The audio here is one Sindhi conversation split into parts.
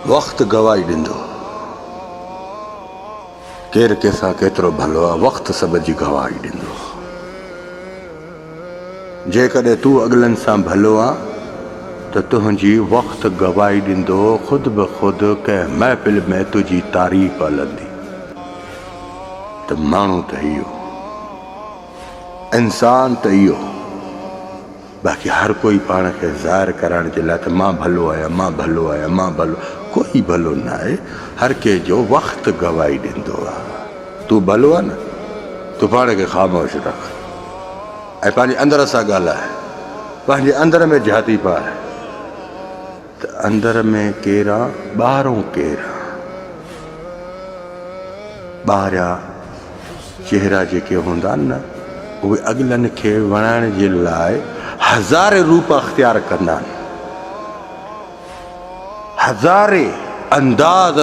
وقت گواهي ڏيندو. ڪير ڪنهن سان ڪيترو ڀلو آ، وقت سڀ جي گواهي ڏيندو. جيڪڏهن تون اڳلن سان ڀلو آ ته تنهنجي وقت گواهي ڏيندو، خود به خود ڪنهن محفل ۾ تنهنجي تعريف هلندي ته ماڻهو ته اهو، انسان ته اهو. باقي هر ڪوئي پاڻ کي ظاهر ڪرائڻ جي لاء ته مان ڀلو آهيان، مان ڀلو آهيان، مان ڀلو، ڪوئي ڀلو نه آهي، هر ڪنهن جو وقت گواهي ڏيندو آهي. تون ڀلو آهي نه؟ تون پاڻ کي خاموش رک ۽ پنهنجي اندر سان ڳالهاء، پنهنجي اندر ۾ جهاتي پاء. ته اندر ۾ ڪير آ ٻاهرون ڪير آ. ٻاهريا چهرا جيڪي هوندا آهن نه اهي اڳلن کي وڻائڻ جي لاء هزارين روپ اختيار ڪندا آهن. هزارين انداز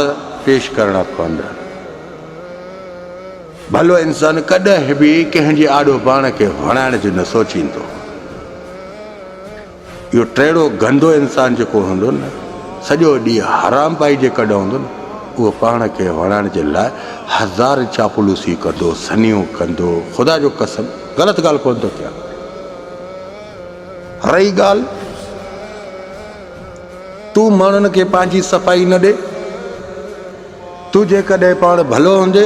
پيش ڪرڻا پوندا آهن. ڀلو انسان ڪڏهن به ڪنهن جي آڏو پاڻ کي وڻائڻ جو نه سوچيندو. اهو ٽيڙو گندو انسان جيڪو هوندو نه سڄو ڏينهن حرام پائي جي ڪڍ هوندو نه اهو پاڻ کي وڻائڻ جي لاء هزار چاپلوسي ڪندو سنيون ڪندو خدا جو قسم غلط ڳالهه ڪونه ٿو ٿيان رهي ڳالهه تون ماڻهن کي پنهنجي صفائي نه ڏي تون جيڪڏهن پاڻ ڀلو هوندي،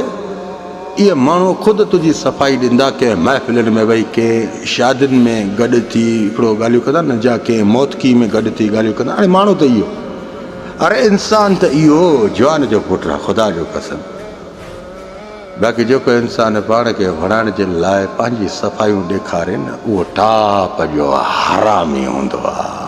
اهي ماڻهو خود تنهنجي صفائي ڏيندا، ڪنهن محفلن ۾ ويهي، ڪنهن شادين ۾ گڏ ٿي هڪڙو ڳالهيون ڪندا نه جا ڪنهن موتڪي ۾ گڏ ٿي ڳالهيون ڪندا. اڙي ماڻهو ته اهو، اڙي انسان ته اهو جوان جو پٽ آهي، خدا جو قسم! باقي جيڪو انسان پاڻ کي وڻائڻ جي لاء پنهنجي صفائيون ڏيکاري نه، اهو ٽاپ جو حرامي هوندو آهي.